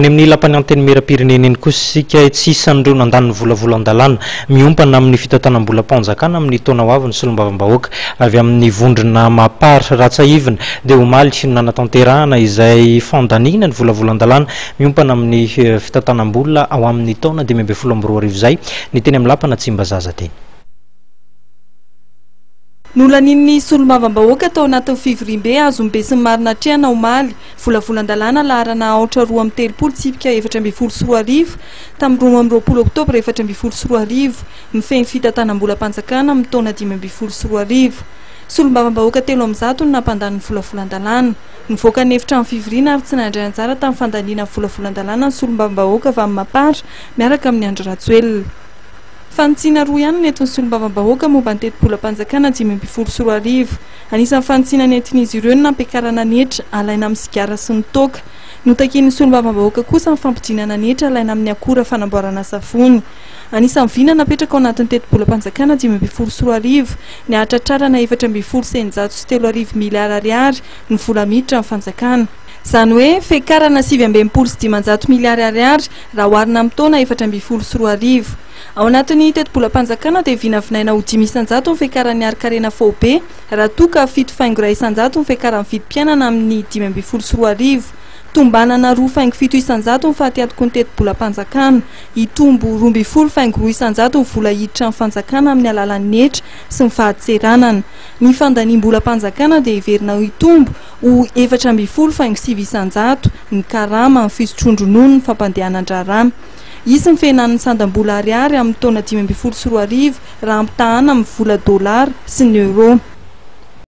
Eny amin'ny Lapan'ny Antenimierampirenena eny kosa isika, tsy isan'ireo nandany ny volavolan-dalàna miompana amin'ny fitantanam-bolam-panjakana amin'ny taona ho avy ny solombavambahoaka avy amin'ny vondrona Mapar. Raha tsiahivina dia omaly no nanatanterahana izay fandaniana ny volavolan-dalàna miompana amin'ny fitantanam-bola ho amin'ny taona dimy ambin'ny folo amby roa arivo izay ny teny amin'ny Lapan'Antsimbazaza teny. Nolanian'ny solombavambahoaka tao anatin'ny fivoriambe azon'ny besinimaro natrehana omaly, volavolan-dalàna laharana aotra roa amby telopolo tsipika efatra ambin'ny folo sy roa arivo, tamin'ny roa amby roapolo oktobra efatra ambin'ny folo sy roa arivo, mifehy ny fitantanam-bolam-panjakana amin'ny taona dimy ambin'ny folo sy roa arivo. Solombavambahoaka telo amin'ny zato no nampandany ny volavolan-dalàna. Nivoaka ny efitrano fivoriana ary tsy nandray anjara tamin'ny fandaniana ny volavolan-dalàna ny solombavambahoaka Vamimapara miaraka amin'i Andry Rajoelina. Fanitsiana roa ihany no nentin'ny solombavambahoaka momba ny tetibolam-panjakana dimy ambin'ny folo sy roa arivo. Anisan'ny fanitsiana nentin'izy ireo ny nampiakarana ny hetra alaina amin'ny sigara sy ny toaka. Notakian'ny solombavambahoaka kosa ny fampidinana ny hetra alaina amin'ny akora fanamboarana savony. Anisan'ny vina napetraka ao anatin'ny tetibolam-panjakana dimy ambin'ny folo sy roa arivo ny hahatratrarana efatra ambin'ny folo sy eninjato sy telo arivo miliara ariary ny vola miditra amin'ny fanjakana, izany hoe fiakarana sivy amby enimpolo sy dimanjato miliary ariary, raha oharina amin'ny taona efatra ambin'ny folo sy roa arivo. Ao anatin'ny tetibolam-panjakana dia vinavinaina ho dimy isan-jato ny fiakaran'ny harin-karena faobe, raha toa ka fito faingo iray isan-jato ny fiakaran'ny vidim-piainana amin'ny dimy ambin'ny folo sy roa arivo. Tombanana roa faingo fito isan-jato ny fatiatoky ny tetibolam-panjakana. Hitombo roa ambin'ny folo faingo roa isan-jato ny vola hiditra amin'ny fanjakana amin'ny alalan'ny hetra sy ny fahatseranana. Ny fandaniam-bolam-panjakana dia heverina ho hitombo ho efatra ambin'ny folo faingo sivy isan-jato ny karama amin'ny fisotroan-dronono ny fampandehanan-draharaha. Hisy ny fihenan'ny sandam-bola ariary amin'ny taona dimy ambin'ny folo sy roa arivo raha ampitahàna amin'ny vola dolara sy ny euro.